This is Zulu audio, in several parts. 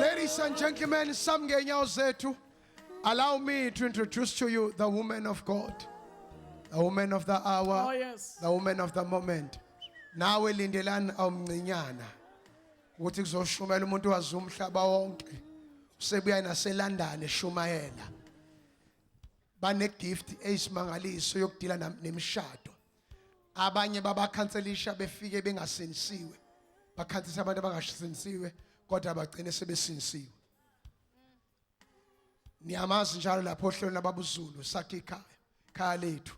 Ladies and gentlemen, some ngenyawo zethu. Allow me to introduce to you the woman of God. The woman of the hour. Oh, yes. The woman of the moment. Nawe lindelani awumncinyana. Ukuthi kuzoshumela umuntu wazi umhlaba wonke. Usebuya naseLondon eshumayela. Bane gift eyisimangaliso yokudila nemishado. abanye babakhanselisha befike bengasinisiwe bakhansisa abantu abangasinisiwe kodwa bagcine sebesinisiwe niyamazi njalo lapho ohlelweni lababuzulu sakhe ikhaya khaya lethu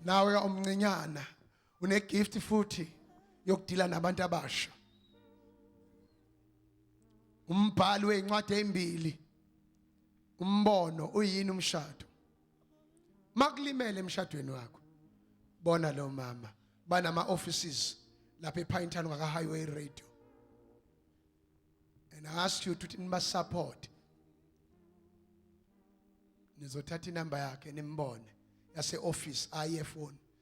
nawe omncinyana une gift futhi yokudila nabantu abasha umbhali wezincwadi ezimbili umbono uyini umshado makulimele emshadweni wakho bona lo mama banama offices lapha ePinetown ngaka Highway Radio and I ask you to niba support nizothatha inamba yakhe nimbone yase office aye phone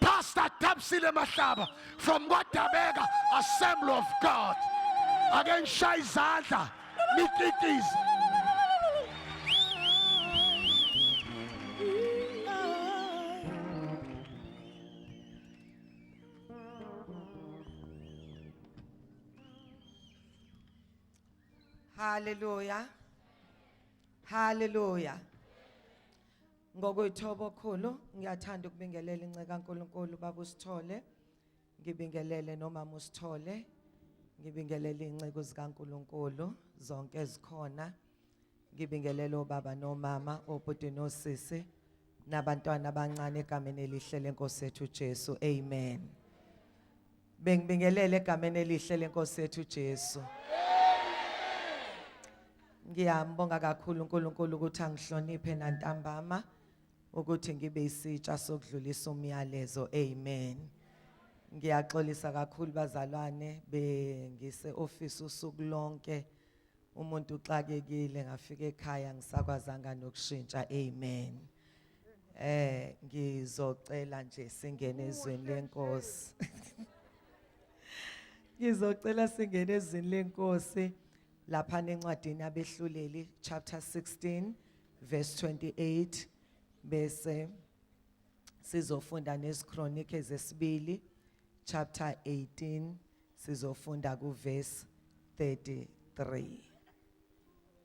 Pastor Thabsile Mahlaba from KwaDabeka Assembly of God. Ake ngishaye izandla nikitize. Hallelujah. Hallelujah. Ngokuyithoba okhulu ngiyathanda ukubingelela inceka kaNkulunkulu baba usithole ngibingelele nomama usithole ngibingelele inceku zikaNkulunkulu zonke ezikhona ngibingelele obaba nomama obhuti nosisi nabantwana abancane egameni elihle lenkosi yethu Jesu amen Bengibingelela egameni elihle lenkosi yethu Jesu. Ngiyambonga kakhulu uNkulunkulu ukuthi angihloniphe nantambama ukuthi ngibe isitsha sokudlulisa umyalezo. Amen. Ngiyaxolisa kakhulu bazalwane bengise office usuku lonke. Umuntu uxakekile ngafika ekhaya ngisakwazanga nokushintsha. Amen. Eh ngizocela nje singene ezweni lenkosi. Ngizocela singene ezweni lenkosi lapha nencwadini abehluleli chapter 16 verse 28 bese sizofunda nesikronike zesibili chapter 18 sizofunda ku verse 33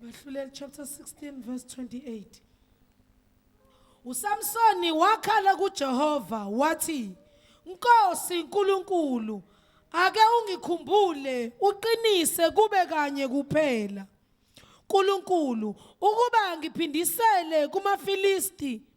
Bahluleli chapter 16 verse 28. uSamsoni wakhala kuJehova wathi Nkosi uNkulunkulu ake ungikhumbule uqinise kube kanye kuphela uNkulunkulu ukuba ngiphindisele kumaFilisti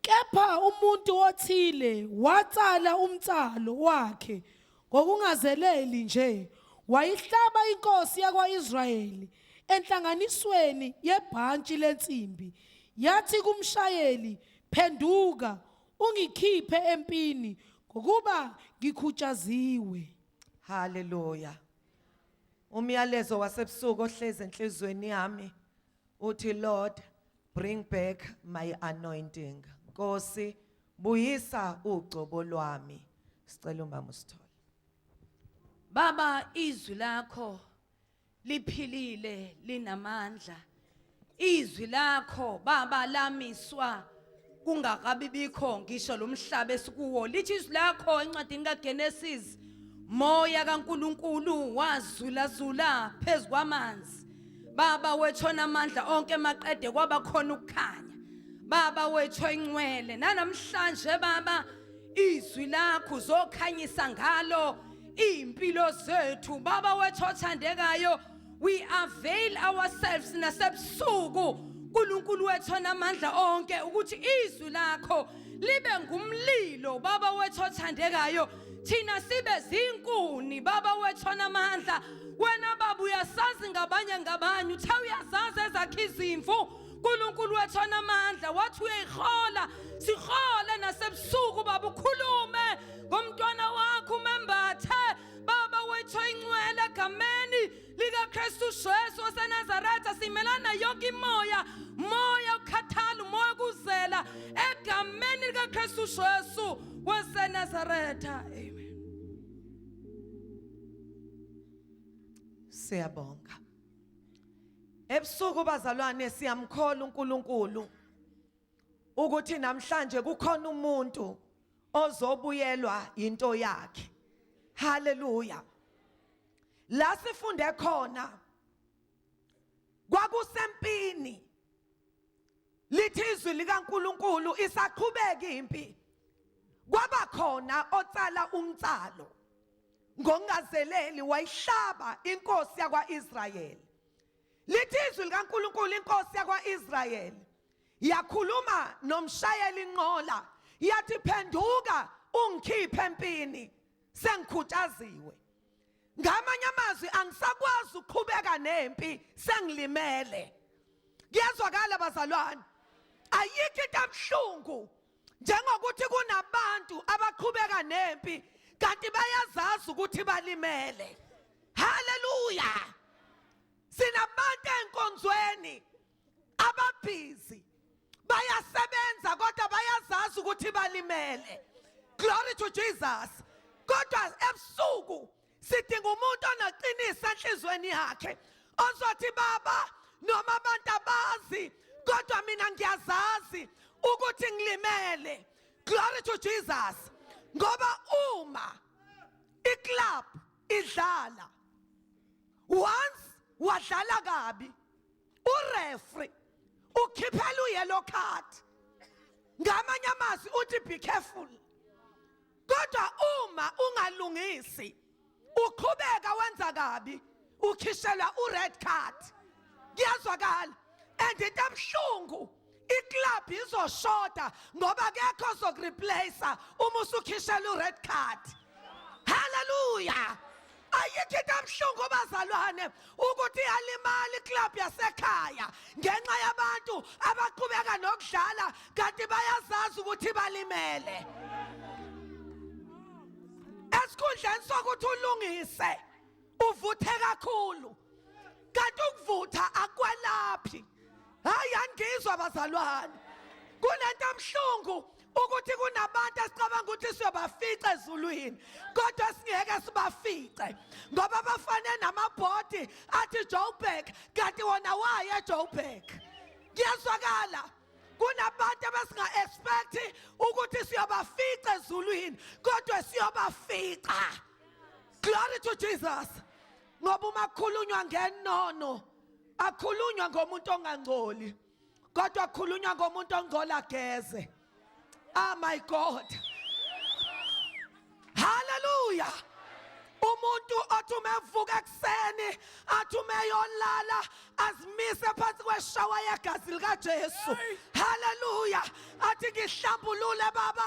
kepha umuntu othile watsala umtsalo wakhe ngokungazeleli nje wayihlaba inkosi yakwa-israyeli enhlanganisweni yebhantshi lensimbi yathi kumshayeli phenduka ungikhiphe empini ngokuba ngikhutshaziwe haleluya umyalezo wasebusuku ohlezi enhlizweni yami uthi Lord bring back my anointing Nkosi buyisa ugcobo lwami sicela umama usithole Baba izwi lakho liphilile linamandla izwi lakho baba lamiswa kungakabi bikho ngisho lo mhlaba esikuwo lithi izwi lakho encwadini kaGenesis moya kaNkuluNkulu wazulazula phezu kwamanzi baba wethona amandla onke maqede kwaba khona ukukhanya baba wethu ingcwele nanamhlanje baba izwi lakho uzokhanyisa ngalo impilo zethu baba wethu othandekayo We avail ourselves nasebusuku uNkulunkulu wethu onamandla onke ukuthi izwi lakho libe ngumlilo baba wethu othandekayo thina sibe zinkuni baba wethu onamandla wena baba uyasazi ngabanye ngabanye uthe uyazazi ezakhe izimvu uNkulunkulu wethu onamandla wathi uyayihola sihole nasebusuku baba ukhulume ngomntwana wakho umembathe Baba wethu oyingcwele egameni likaKristu Jesu waseNazaretha simelana yonke imoya moya ukhathala umoya kuzela egameni likaKristu Jesu waseNazaretha amen Siyabonga Ebusuku bazalwane siyamkhola uNkulunkulu ukuthi namhlanje kukhona umuntu ozobuyelwa into yakhe haleluya la sifunde khona kwakusempini lithi izwi likaNkuluNkulu isaqhubeka impi kwaba khona otsala umtsalo ngongazeleli wayihlaba inkosi yakwaIsrayeli lithi izwi likaNkuluNkulu inkosi yakwaIsrayeli Yakhuluma nomshayeli inqola yathi phenduka ungikhiphe empini sengikhutaziwe. Ngamanye amazwi angisakwazi ukuqhubeka nempi sengilimele. Kuyezwakala bazalwane. Ayikho into ebuhlungu njengokuthi kunabantu abaqhubeka nempi kanti bayazazi ukuthi balimele. Haleluya. Sinabantu enkonzweni ababhizi bayasebenza kodwa bayazazi ukuthi balimele glory to jesus kodwa ebusuku sidinga umuntu onaqinisa enhlizweni yakhe ozothi baba noma abantu abazi kodwa mina ngiyazazi ukuthi ngilimele glory to jesus ngoba uma iclub idlala once wadlala kabi urefri ukhiphela uyellow card ngamanye amazwi uthi be careful kodwa uma ungalungisi uqhubeka wenza kabi ukhishelwa ured card kuyazwakala and into ebuhlungu iclub izoshoda ngoba kekho zokureplace uma usukhishela ured card haleluya ayikho into ebuhlungu bazalwane ukuthi iyalimala iclub yasekhaya ngenxa yabantu abaqhubeka nokudlala kanti bayazazi ukuthi balimele esikhundleni sokuthi ulungise uvuthe kakhulu kanti ukuvutha akwalaphi hayi angizwa bazalwane kunento emhlungu ukuthi kunabantu esicabanga ukuthi siyobafica ezulwini kodwa singeke sibafice ngoba bafane namabhodi athi Joburg kanti wona waye Joburg kuyezwakala kunabantu abasinga expect ukuthi siyobafica ezulwini kodwa siyobafica Glory to Jesus. Ngoba uma khulunywa ngenono akhulunywa ngomuntu ongangcoli kodwa khulunywa ngomuntu ongcola geze. Ah my God. Hallelujah. umuntu othi uma evuka ekuseni athi uma eyolala azimise phansi kweshawa yegazi likaJesu haleluya athi ngihlambulule baba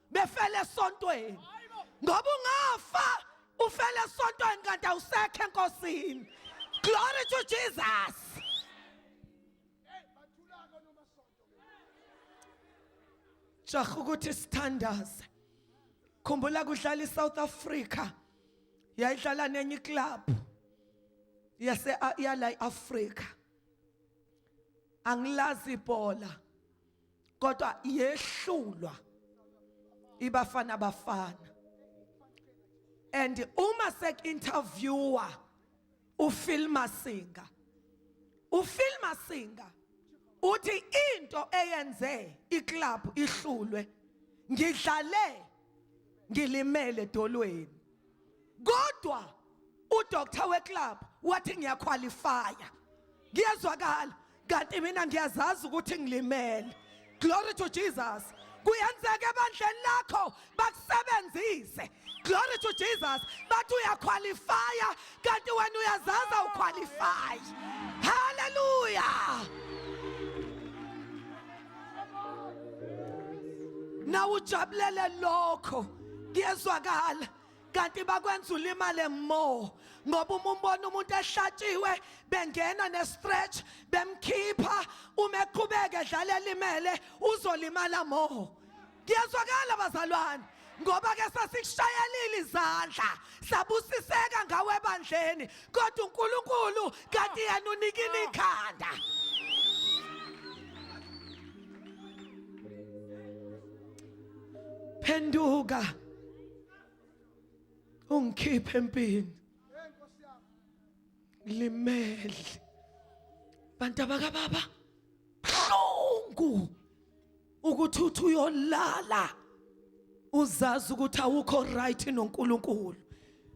befele esontweni ngoba ungafa ufele esontweni kanti awusekho enkosini glory to jesus jaha ukuthi sithandaze khumbula kudlala iSouth Africa yayidlala nenye club yase yala iAfrica angilazi ibhola kodwa yehlulwa ibafana bafana and uma sek interviewer uFil Masinga uFil Masinga uthi into eyenze iclub ihlulwe ngidlale ngilimele dolweni kodwa udoctor weclub wathi ngiyakhwalifaya ngiyezwakala kanti mina ngiyazazi ukuthi ngilimele glory to jesus kuyenzeka ebandleni lakho bakusebenzise glory to jesus bathi uyakhwalifaya kanti wena uyazazi awukhwalifayi haleluya nawe ujabulele lokho kuyezwakala kanti bakwenza ulimale more ngoba uma umbona umuntu ehlatshiwe bengena ne-stretch bemkhipha uma eqhubeke edlala elimele uzolimala more Kuyezwakala bazalwane ngoba ke sasikushayelile izandla sabusiseka ngawe ebandleni kodwa uNkulunkulu kanti yena unikile ikhanda Phenduka ungikhiphe empini limele bantu abakababa buhlungu ukuthi uthi uyolala uzazi ukuthi awukho right noNkulunkulu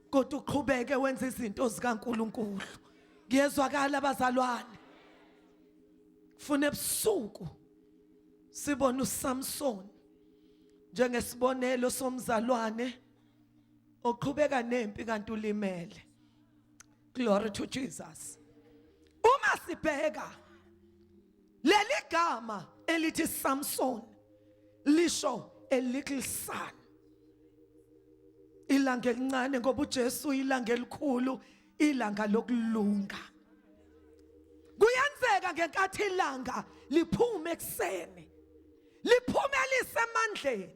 kodwa uqhubeke wenza izinto zikaNkulunkulu kuyezwakala abazalwane fune ebusuku sibona uSamson njengesibonelo somzalwane oqhubeka nempi kanti ulimele glory to Jesus uma sibheka Leli gama elithi Samson lisho a little son. Ilanga elincane ngoba uJesu ilanga elikhulu, ilanga lokulunga. Kuyenzeka ngenkathi ilanga liphuma ekseni. Liphumelise emandleni.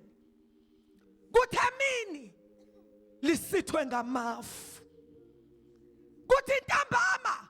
Kuthe mini lisithwe ngamafu. Kuthi intambama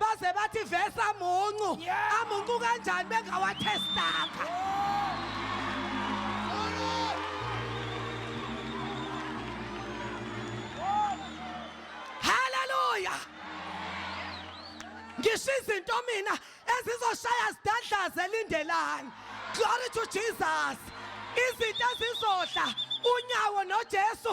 baze bathi vese amuncu amuncu kanjani bengawathestanga haleluya ngisho izinto mina ezizoshaya zidadlaze lindelani glory to jesus izinto ezizodla unyawo noJesu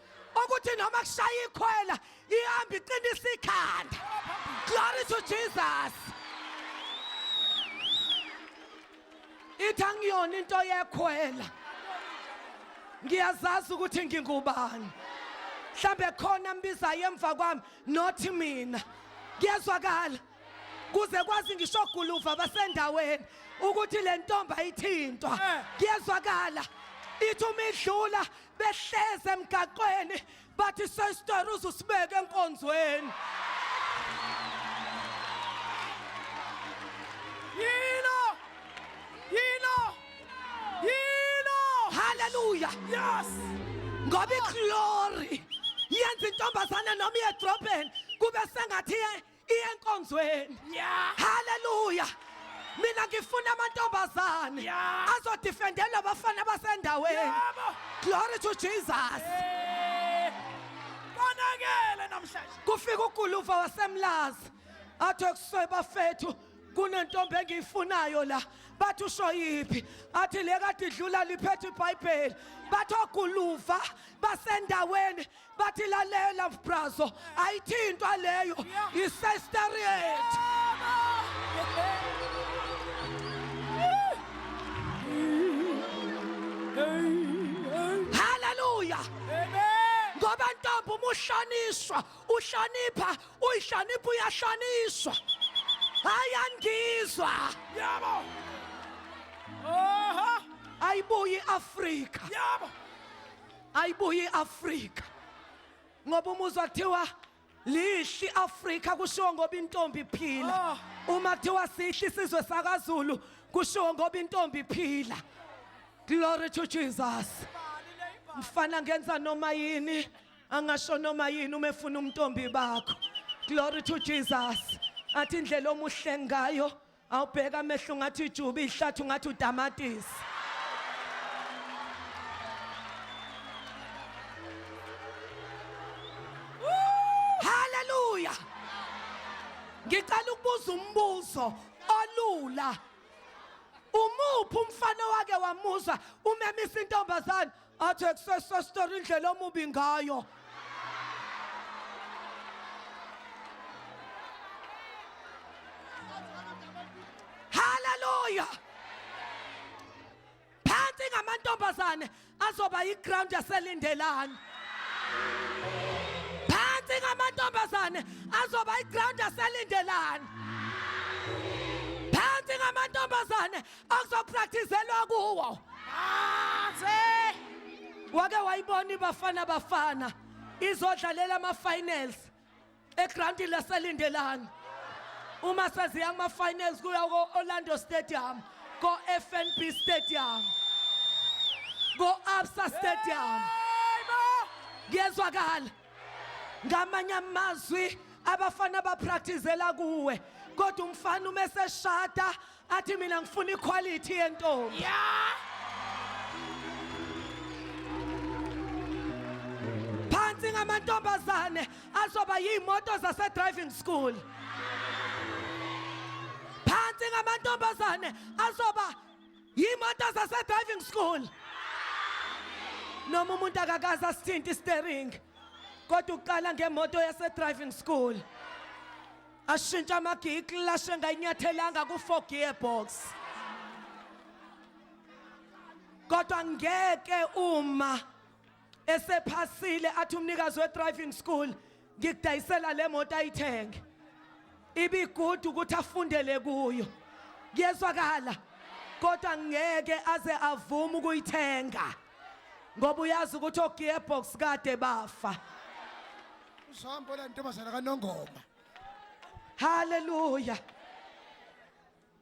ukuthi noma kushaya ikhwela ihamba iqinisa ikhanda glory to jesus ithi angiyona into yekhwela ngiyazazi ukuthi ngingubani mhlambe khona mbizayo emva kwami not mina kuyezwakala kuze kwazi ngisho guluva basendaweni ukuthi le ntombi ayithintwa eh. kuyezwakala ithi uma idlula behleze emgaqweni bathi sestor uzusibeke enkonzweni yilo yilo yilo haleluya yes ngoba iglory yenza intombazane noma iyedrobheni kube sengathi iya enkonzweni Yeah. haleluya mina ngifuna amantombazane Yeah. azodifendela abafana basendaweni Yebo. glory to jesus Eh. Konakele namhlanje. kufika uguluva wasemlazi athi ekuswe bafethu kunentombi engiyifunayo la bathi usho yiphi athi le kade idlula liphethe ibhayibheli bathi oguluva basendaweni bathi lalela brazo ayithintwa leyo isesteriet haleluya ngoba ntombi uma ushaniswa ushanipha uyishanipha uyashaniswa hayi angizwa yabo ayibuyi iafrika yabo ayibuye iAfrika ngoba umuzwa kuthiwa lihli Afrika kushiwo ngoba intombi iphila oh. uma kuthiwa sihli sizwe sakaZulu kushiwo ngoba intombi iphila glory to Jesus mfana ngenza noma yini angasho noma yini uma efuna umntombi bakho glory to Jesus athi indlela omuhle ngayo awubheka amehlo ngathi ujuba ihlathi ngathi utamatisi haleluya ngicela ukubuza umbuzo olula umuphi umfana wake wamuzwa umemisa intombazane athi kusesestora indlela omubi ngayo haleluya phansi ngamantombazane azoba yiground yaselindelani phansi ngamantombazane azoba yiground yaselindelani phansi ngamantombazane okuzopractizelwa kuwo aze wake wayibona ibafana bafana izodlalela ama-finals egrandi laselindelani uma seziya kuma-finals kuya ko-orlando stadium ko-fnb stadium ko-absa stadium kuyezwakala ngamanye amazwi abafana bapractizela kuwe kodwa umfana uma eseshada athi mina ngifuna iquality yentombi Yeah. phansi ngamantombazane azoba yiy'moto zase-driving school phansi ngamantombazane azoba yiy'moto zase-driving school noma umuntu akakaze asithinta istering kodwa uqala ngemoto yase-driving school ashintsha amagiya ikilashi engayinyathelanga ku-four gear box kodwa ngeke uma esephasile athi umnikazi we-driving school ngikudayisela le moto ayithenge ibigudu ukuthi afundele kuyo kuyezwakala kodwa ngeke aze avume ukuyithenga ngoba uyazi ukuthi ogearbox kade bafa Uzohamba la ntombazana kaNongoma. Hallelujah.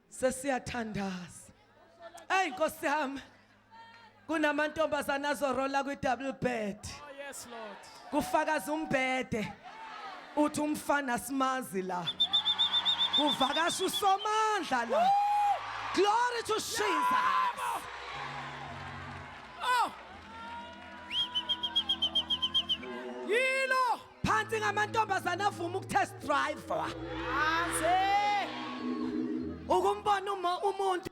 Sesiyathandaza. Hey Nkosi yami. Kunamantombazana azorola kwi double bed. Oh yes Lord. Kufakaza umbhede. Uthi umfana simazi la. Kuvakasha usomandla la. Glory to Jesus. Oh! Yilo! Phansi ngamantombazana avuma ukutest driver. Aze! Ukumbona uma umuntu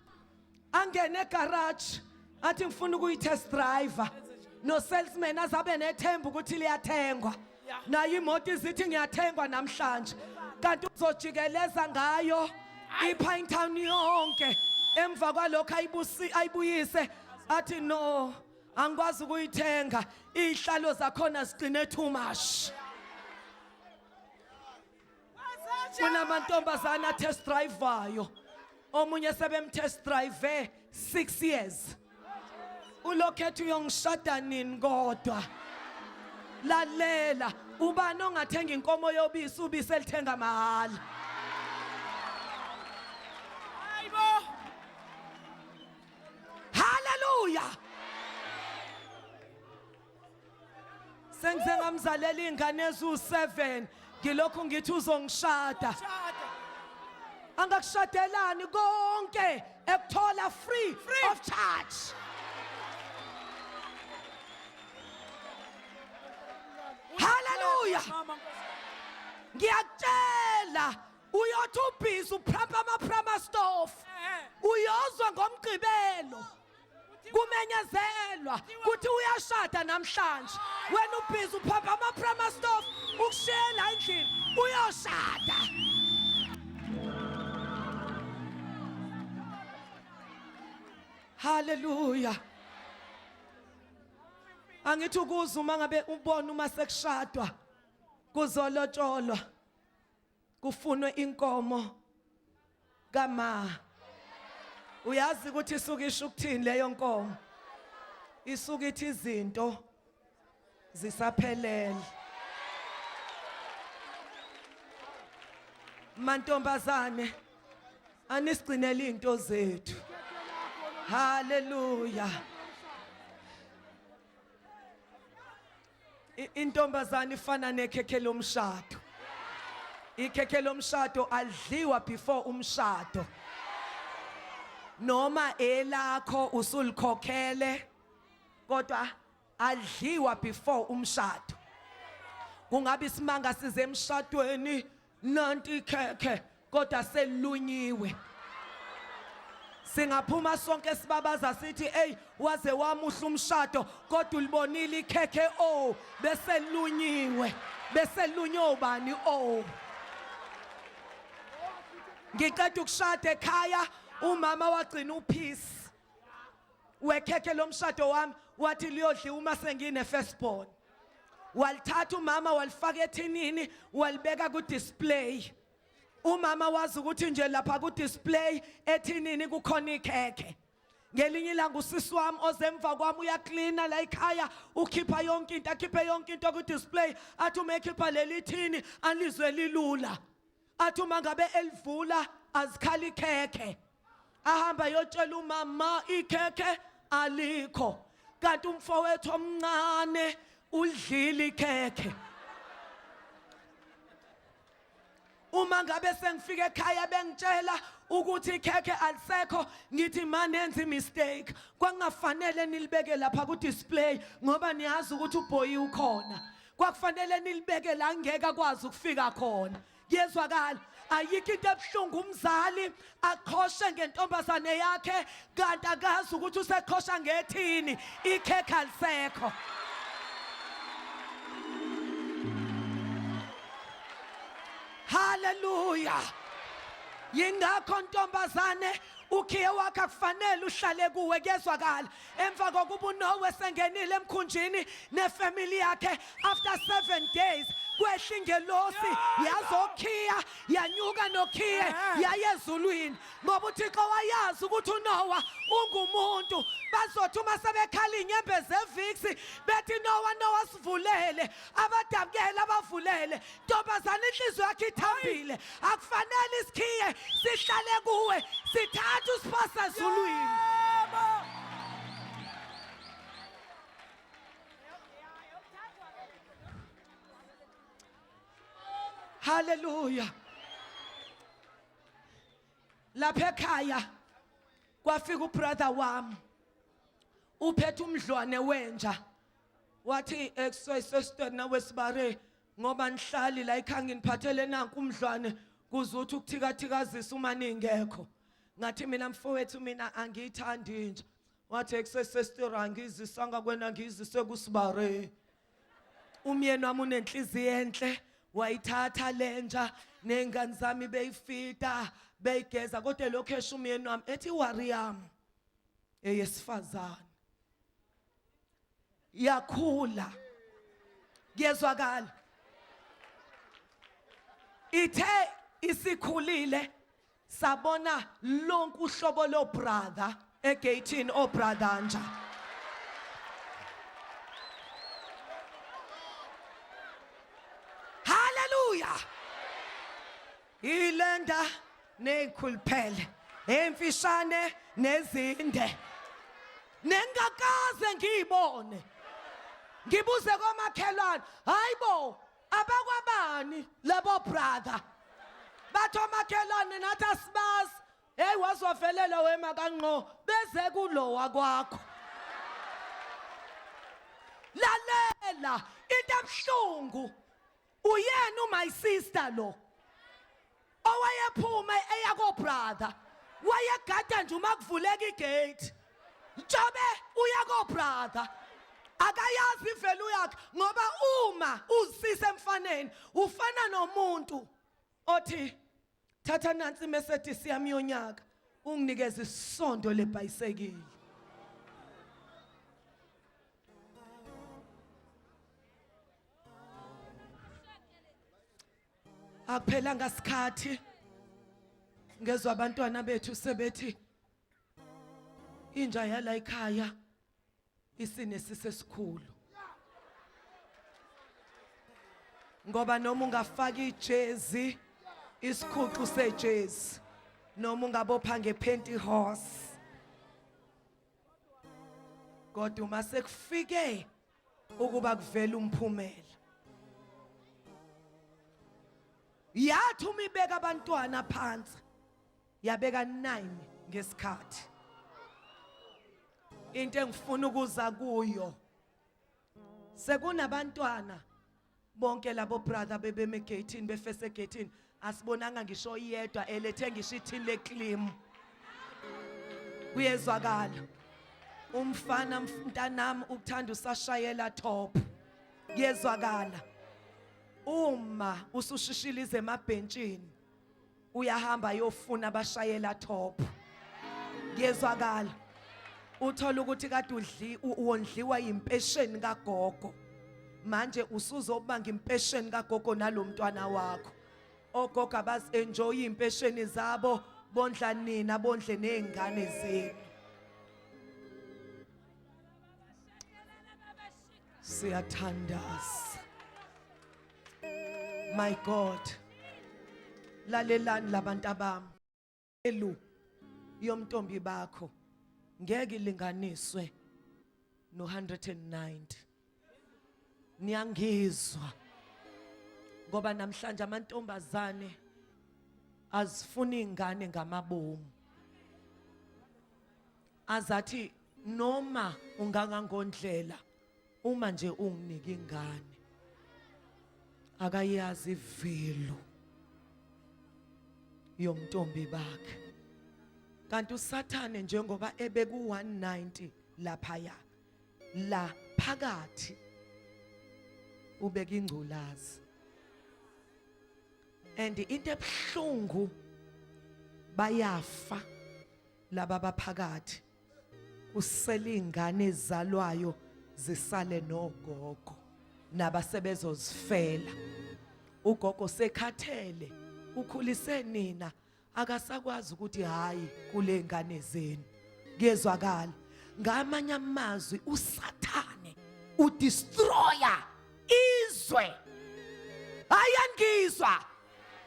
angene egarage athi ngifuna ukuyitest driver. No salesman azabe nethemba ukuthi liyathengwa. nayo imoto izithi ngiyathengwa namhlanje kanti uzojikeleza ngayo ipine town yonke emva kwalokho ayibusi ayibuyise athi no angikwazi ukuyithenga izihlalo zakhona sigcine too much kunamantombazane atest drivayo omunye sebemtest drive 6 years ulokhetha uyongishada nini kodwa lalela ubani ongathenga inkomo yobisi ubisi elithenga mahhala hayibo haleluya sengize ngamzalela iy'ngane eziwu-seven ngilokhu ngithi uzongishada angakushadelani konke ekuthola free, free of charge haleluya ngiyakutshela uyothi ubhizi uphrampa amaphramastofo eh, eh. uyozwa ngomgqibelo kumenyezelwa kuthi uyashada namhlanje wena ubhizi uphapha ama-prima stof ukushiyela endlini uyoshada haleluya angithi ukuza uma ngabe ubona uma sekushadwa kuzolotsholwa kufunwe inkomo kama uyazi ukuthi isuke isho ukuthini leyo nkomo isuke ithi izinto zisaphelele mantombazane anisigcinele izinto zethu haleluya Intombazane ifana nekhekhe lomshado. Ikhekhe lomshado alidliwa before umshado. Noma elakho usulikhokhele kodwa alidliwa before umshado. Kungabe isimanga size emshadweni nanti ikhekhe kodwa selunyiwe singaphuma sonke sibabaza sithi eyi waze wamuhle umshado kodwa ulibonile ikhekhe o oh, beselunyiwe beselunywe ubani o oh. ngiqeda ukushada ekhaya umama wagcina uphisi wekhekhe lomshado wami wathi liyodliwa uma sengine firstborn walithatha umama walifaka ethinini walibeka ku display umama wazi ukuthi nje lapha ku display ethinini kukhona ikhekhe ngelinye ilanga usisi wami ozemva kwami uyaklina la ekhaya ukhipha yonke into akhiphe yonke into ku display athi uma ekhipha leli thini alizwe lilula athi uma ngabe elivula azikhali ikhekhe ahamba yotshela umama ikhekhe alikho kanti umfowethu omncane ulidlile ikhekhe uma ngabe sengifika ekhaya bengitshela ukuthi ikhekhe alisekho ngithi manenze mistake kwangafanele nilibeke lapha ku display ngoba niyazi ukuthi ubhoyi ukhona kwakufanele nilibeke la ngeke akwazi ukufika khona kuyezwakala ayikho into ebuhlungu umzali aqhoshe ngentombazane yakhe kanti akazi ukuthi useqhosha ngethini ikhekhe alisekho haleluya yingakho ntombazane ukhiye wakhe akufanele uhlale kuwe kuyezwakala emva kokuba unowe sengenile emkhunjini nefamily yakhe after seven days kwehla ingelosi yazokhiya yanyuka nokhiye eh. yaye ezulwini ngoba uthixo wayazi ukuthi unowa ungumuntu bazothi uma sebekhala iy'nyembezi eviksi bethi nowa nowa sivulele abadabukele abavulele ntombazane inhliziyo yakhe ithambile akufanele isikhiye sihlale kuwe sithatha usiphosa ezulwini haleluya lapha ekhaya kwafika ubrother wami uphethe umdlwane wenja wathi ekusesesitweni nawesibare ngoba nihlali la ekhaya nginiphathele nanku umdlwane kuze uthi ukuthikathikazisa uma ningekho ngathi mina mfowethu mina angiyithandi inja wathi ekusesesitira angizisanga kwena ngizise kusibare umyeni wami unenhliziyo enhle wayithatha lenja nengane zami beyifita beyigeza kodwa lokho esho umyeni wami ethi wariyam eyesifazane yakhula kuyezwakala ithe isikhulile sabona lonke uhlobo lo brother egatini o brother nja haleluya Ilenda neyikhuluphele emfishane nezinde nengakaze ngiyibone ngibuze komakhelwane hayibo abakwabani labo brother bathi omakhelwane nathi asibazi heyi wazovelela wema kanqo beze kulowa kwakho lalela into ebuhlungu Uyena u my sister lo. Owayephuma eya ko brother. Wayegada nje uma kuvuleka igate. Njobe uya ko brother. Akayazi ivelu yakhe ngoba uma uzisise emfaneni ufana nomuntu othi thatha nansi iMercedes yami yonyaka unginikeze isondo lebhayisekile akuphelanga sikhathi ngezwe abantwana bethu sebethi inja yala ekhaya Isine sisesikhulu. Ngoba noma ungafaka ijezi isikhuxu sejezi noma ungabopha ngephenti horse kodwa uma sekufike ukuba kuvele umphumela yathi uma ibeka abantwana phansi yabeka 9 ngesikhathi into engifuna ukuza kuyo sekunabantwana bonke labo brother bebeme gate befese gate asibonanga ngisho iyedwa elethe ngisho ithini leclaim kuyezwakala umfana mntanami ukuthanda usashayela top kuyezwakala uma usushishilize emabhentshini uyahamba ayofuna abashayela top ngiyezwakala uthola ukuthi kade udli wondliwa impesheni kagogo manje usuzobanga impesheni kagogo nalomntwana wakho ogogo abazi enjoy impesheni zabo bondla nina bondle nezingane zenu siyathandaza My God. Lalelani labantu abami. Elu yomntombi bakho ngeke linganiswe no 190. Niyangizwa. Ngoba namhlanje amantombazane azifuni ingane ngamabomu. Azathi noma ungangangondlela uma nje unginike ingane akayazi ivelo yomntombi bakhe kanti usathane njengoba ebeku 190 lapha ya la phakathi ubeka ingculazi and into ebuhlungu bayafa laba baphakathi uselingane ezalwayo zisale nogogo nabasebezozifela ugogo sekhathele ukhulise nina akasakwazi ukuthi hayi kule ngane zenu kuyezwakala ngamanye amazwi usathane udestroyer izwe ayangizwa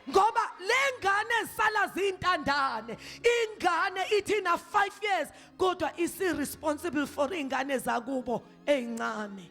ngoba lengane esala zintandane ingane ithi na 5 years kodwa isi responsible for ingane zakubo ezincane